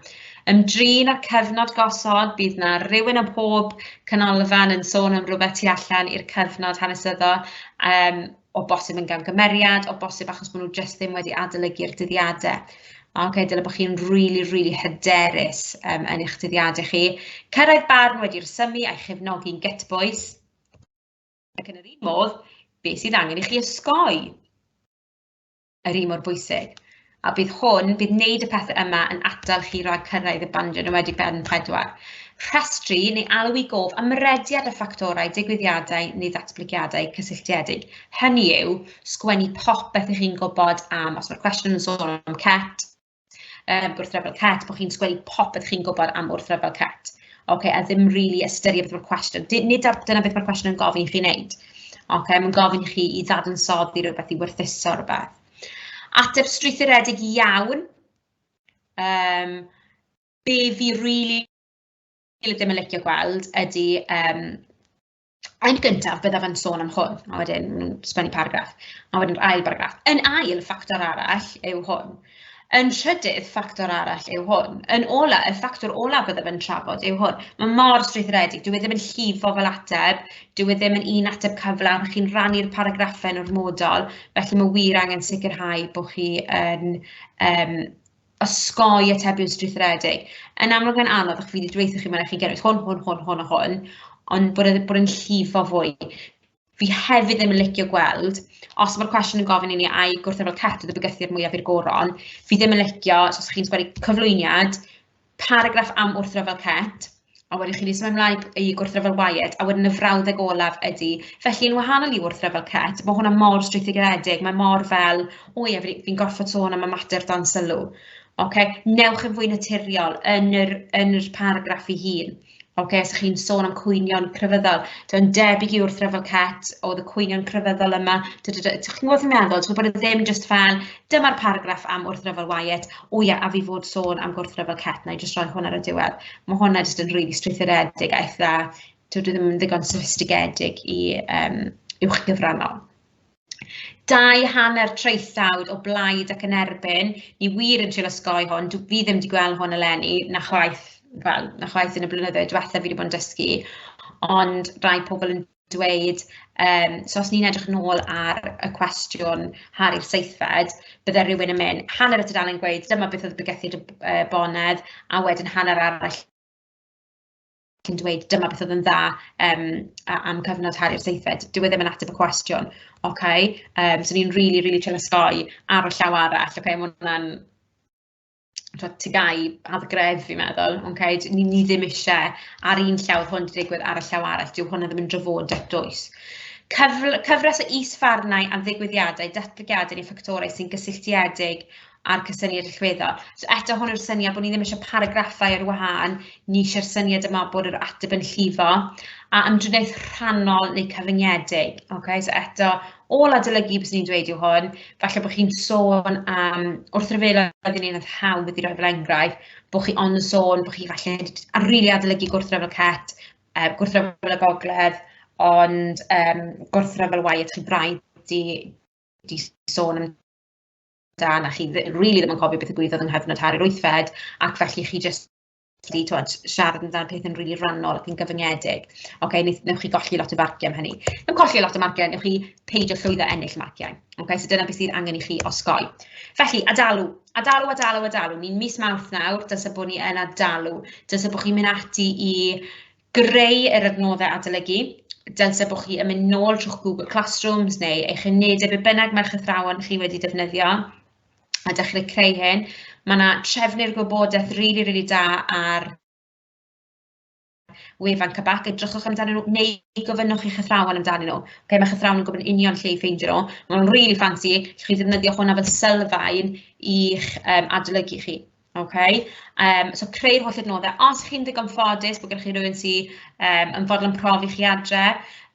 Ymdrin â'r cyfnod gosod, bydd yna rhywun ym mhob canolfan yn sôn am rhywbeth tu allan i'r cyfnod hanesyddol. Um, o bosib yn gamgymeriad, o bosib achos bod nhw jyst ddim wedi adolygu'r dyddiadau. Mae'n okay, dylai bod chi'n really, really hyderus um, yn eich dyddiadau chi. Cyrraedd barn wedi rhesymu a'i chefnogi'n gytbwys. Ac yn yr un modd, beth sydd angen i chi osgoi? yr un mor bwysig. A bydd hwn, bydd wneud y pethau yma yn atal chi rhag cyrraedd y bandiau yn wedi ben 4. Rhestru neu alw i gof am rediad o ffactorau, digwyddiadau neu ddatblygiadau cysylltiedig. Hynny yw, sgwennu popeth ych chi'n gwybod am, os mae'r cwestiwn yn sôn am CET, um, gwrthryfel cat, bod chi'n sgwennu popeth chi'n gwybod am wrthryfel cat. Okay, a ddim rili really ystyried beth mae'r cwestiwn. Nid ar, dyna beth mae'r cwestiwn yn gofyn i chi wneud. Okay, mae'n gofyn i chi i ddadansoddi rhywbeth, i werthuso rhywbeth. Ateb strwythuredig iawn. Um, be fi rili really ddim yn licio gweld ydy um, Yn gyntaf, byddaf yn sôn am hwn, a wedyn sgwennu paragraff, a wedyn yr ail baragraff. Yn ail, ffactor arall yw hwn. Yn trydydd, ffactor arall yw hwn. Yn ola, y ffactor ola byddaf yn trafod yw hwn. Mae mor strwythuredig, dyw e ddim yn llifo fel ateb, dyw e ddim yn un ateb cyflawn, chi'n rhannu'r paragraffau yn ormodol, felly mae wir angen sicrhau bod chi yn um, osgoi atebion strwythuredig. Yn amlwg mae'n anodd, ac fi wedi dweithio chi mae'n eich chi gynnwys hwn, hwn, hwn, hwn a hwn, ond bod e'n bod yn llifo fwy. Fi hefyd ddim yn licio gweld, os mae'r cwestiwn yn gofyn i ni ai gwrthefol teto dy bygythiad mwyaf i'r goron, fi ddim yn licio, os chi'n sgwennu cyflwyniad, paragraff am wrthryfel Cett, a wedyn chi'n symud ymlaen i gwrthryfel Wyatt, a wedyn y frawddeg olaf ydy. Felly, yn wahanol i wrthryfel Cett, mae hwnna mor strwythuredig, mae mor fel, o ie, fi'n gorfod sôn am y mater dan sylw. Okay? Newch yn fwy naturiol yn yr, yn yr paragraff ei hun. Ok, so chi'n sôn am cwynion crefyddol. Dwi'n debyg i wrth Refel Cat oedd y cwynion crefyddol yma. Chi'n gwybod i'n meddwl, ti'n bod e ddim just fel, dyma'r paragraff am wrth Refel Wyatt, o ia, a fi fod sôn am gwrth Refel Cat, na i just roi hwn ar y diwedd. Mae hwnna jyst yn rili really strwythuredig a eitha, dwi ddim yn ddigon sophistigedig i um, uwch gyfrannol. dau hanner traethawd o blaid ac yn erbyn. Ni wir yn trio osgoi hwn, dw- fi ddim wedi gweld hwn eleni, na chwaith, wel, na chwaith yn y blynyddoedd diwetha fi wedi bod yn dysgu, ond rai pobl yn dweud, um, so os ni'n edrych nôl ar y cwestiwn Harry'r seithfed, bydde rhywun yn mynd, hanner y tudalen gweud, dyma beth oedd bygythiad y uh, bonedd, a wedyn hanner arall ac yn dweud dyma beth oedd yn dda yym a- am cyfnod Harri'r seithfed. Dyw e ddim yn ateb y cwestiwn, ocê, yym so ni'n rili rili trin osgoi ar y llaw arall, ocê, ma' hwnna'n t'od tŷ gau ar dy gref fi'n meddwl, ocê, d- ni ni ddim isie ar un llaw o'dd hwn 'di digwydd ar y llaw arall, dyw hwnna ddim yn drafodaeth dwys. Cyfl- cyfres o is-farnau am ddigwyddiadau, datblygiadau neu ffactorau sy'n gysylltiedig a'r cysyniad allweddol. So eto hwn yw'r syniad bod ni ddim eisiau paragraffau ar wahân, ni eisiau'r syniad yma bod yr ateb yn llifo, a ymdriniaeth rhannol neu cyfyngedig. Okay? So eto, ôl adolygu beth ni'n dweud yw hwn, falle bod chi'n sôn am, wrth ryfelo oedd yn un oedd hawdd wedi rhoi fel enghraifft, bod chi ond yn sôn bod chi falle ar rili adolygu gwrthryfel cet, uh, gwrthryfel y gogledd, ond um, gwrthryfel waith chi'n braidd di, di sôn am da, na chi dd- rili ddim yn cofio beth ddigwyddodd yng nghyfnod Harri'r Wythfed, ac felly chi jyst wedi tibod siarad amdano pethau'n rili rannol ac yn gyfyngedig. Ok, wnaeth- wnewch chi golli lot o farciau am hynny. Dim colli lot o marciau, wnewch chi peidio llwyddo ennill marciau. Ok, so dyna beth sydd angen i chi osgoi. Felly, adalu, adalu, adalu, adalu. Ni'n mis Mawrth nawr, dyna bod ni yn adalu. Dyna bod chi'n mynd ati i greu yr adnoddau adolygu, dylse bod chi yn mynd nôl trwy'ch Google Classrooms neu eich unedau be bynnag mae'ch athrawon chi wedi defnyddio a dechrau creu hyn. Mae yna trefnu'r gwybodaeth rili really, rili really da ar wefan Cabac, edrychwch amdanyn nhw neu gofynnwch i'ch athrawon amdanyn nhw. Okay, mae'ch athrawon yn gwybod yn union lle i ffeindio nhw. Mae nhw'n rili really ffansi, chi ddefnyddio hwnna fel sylfaen i'ch um, adolygu chi. Okay. Um, so creu'r holl adnoddau. Os chi'n ddigon ffodus bod gennych chi rhywun sy'n um, yn fodlon profi chi adre,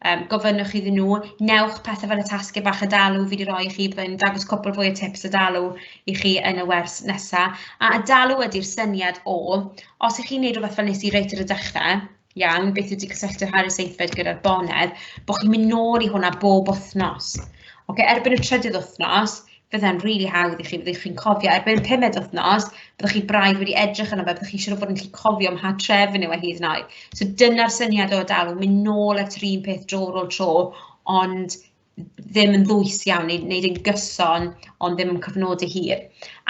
um, gofynnwch iddyn nhw, newch pethau fel y tasgu bach y dalw fi wedi rhoi i chi, byddai'n dangos cwpl fwy o tips y dalw i chi yn y wers nesaf. A y dalw ydy'r syniad o, os ych chi'n gwneud rhywbeth fel nes i reit ar y dechrau, iawn, beth yw cysylltu ar y seithfed gyda'r bonedd, bod chi'n mynd nôl i hwnna bob wythnos. Okay, erbyn y trydydd wythnos, fydda'n rili really hawdd i chi, fyddwch chi'n cofio, erbyn y pumed wythnos, byddwch chi braidd wedi edrych yno fe, byddwch chi'n siŵr o fod yn gallu cofio mha tref yn yw e hyd yn oed. So dyna'r syniad o dal, mynd nôl at yr un peth dro ar ôl tro, ond ddim yn ddwys iawn neu neu ddim gyson ond ddim yn cyfnodi hir.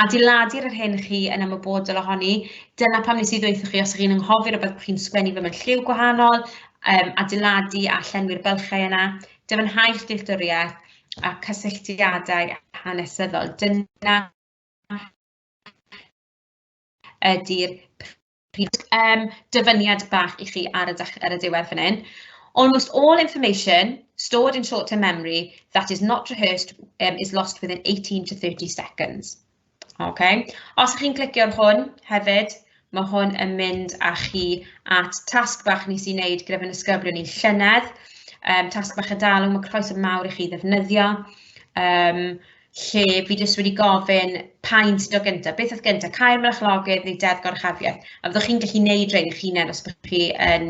Adeiladu'r yr hyn chi yn ymwybodol ohoni, dyna pam nes i ddweud chi os ydych chi'n anghofio rhywbeth bod chi'n sgwennu fe mewn lliw gwahanol, um, adeiladu a llenwi'r bylchau yna, dyfynhau'ch dealltwriaeth a cysylltiadau hanesyddol. Dyna ydy'r Reit yym dyfyniad bach i chi ar y dech- ar y diwedd fan hyn. Almost all information stored in short-term memory that is not rehearsed yym is lost within 18 to 30 seconds. Ok, os chi'n clicio ar hwn hefyd, ma' hwn yn mynd â chi at tasg bach nes i wneud gyda fy nisgyblion i llynedd, yym tasg bach y dalwm, ma' croeso mawr i chi ddefnyddio yym. lle fi jyst wedi gofyn pa un sy'n dod gynta, beth oedd gynta, cau'r marchlogydd neu deddf goruchafiaeth, a fyddwch chi'n gallu neud rhein eich hunen os byddwch chi yn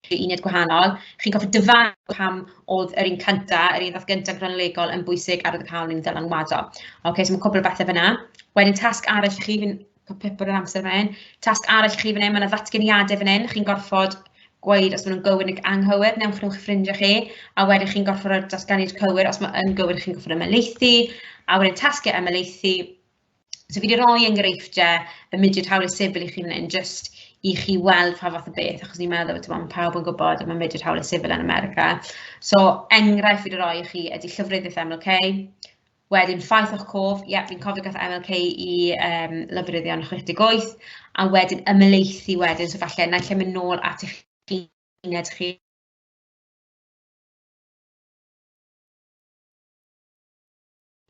rhoi uned gwahanol, chi'n gofyn dyfalu pam oedd yr un cynta, yr un ddath gynta cronolegol yn bwysig ar y cawl ni'n ddylanwado. Ocê, so mae cwpl o bethe fan'na. Wedyn tasg arall i chi, fi'n Cael pip ar yr amser fan Tasg arall i chi fan hyn, mae yna ddatganiadau fan hyn. Chi'n gorfod gweud os maen nhw'n gywir neu anghywir, newch nhw'ch ffrindiau chi, a wedyn chi'n gorfod rhoi'r datganiad cywir os mae'n gywir chi'n gorfod ymelaethu, a wedyn tasgau ymelaethu. So fi wedi rhoi enghreifftiau y mudiad hawliau sifil i chi fan hyn, jyst i chi weld pa fath o beth, achos ni'n meddwl bod mae pawb yn gwybod y mae mudiad hawliau sifil yn America. So enghraifft fi wedi rhoi i chi ydy llyfryddiaeth MLK, Wedyn ffaith o'ch cof, ie fi'n cofio gath MLK i um, lofruddion 68, a wedyn ymyleithi wedyn, so falle naill lle mynd nôl at eich uned chi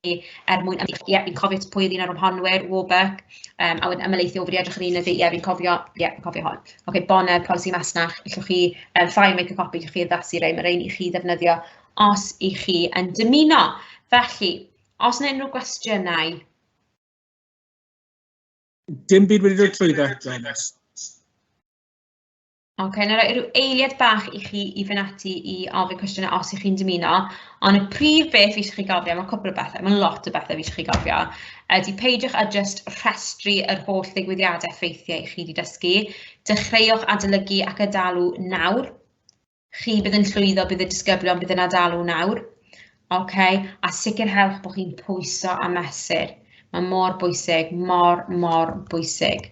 er mwyn ymwneud, ie, fi'n cofio pwy oedd un ar ymhonwyr, Warburg, um, a wedyn ymwneud i ofri edrych yn un ydy, ie, fi'n cofio, ie, fi'n cofio hon. Oce, okay, bonau, polisi masnach, allwch chi, um, ffair make a copy, allwch chi addasu rei, mae rei i chi ddefnyddio os i chi yn dymuno. Felly, os yna unrhyw gwestiynau? Dim byd wedi dod trwy fe, Jonas. Oce, okay, na roi rhyw eiliad bach i chi i fynd ati i ofyn cwestiynau os ych chi'n dymuno, ond y prif beth fi eisiau chi gofio, mae cwpl o bethau, mae lot o bethau fi eisiau chi gofio, ydy peidiwch â just rhestru yr holl ddigwyddiadau ffeithiau i chi wedi dysgu, dechreuwch adolygu ac adalu nawr, Chi bydd yn llwyddo, bydd y disgyblion bydd yn adalu nawr. Okay? A sicrhewch bod chi'n pwyso a mesur. Mae mor bwysig, mor, mor bwysig.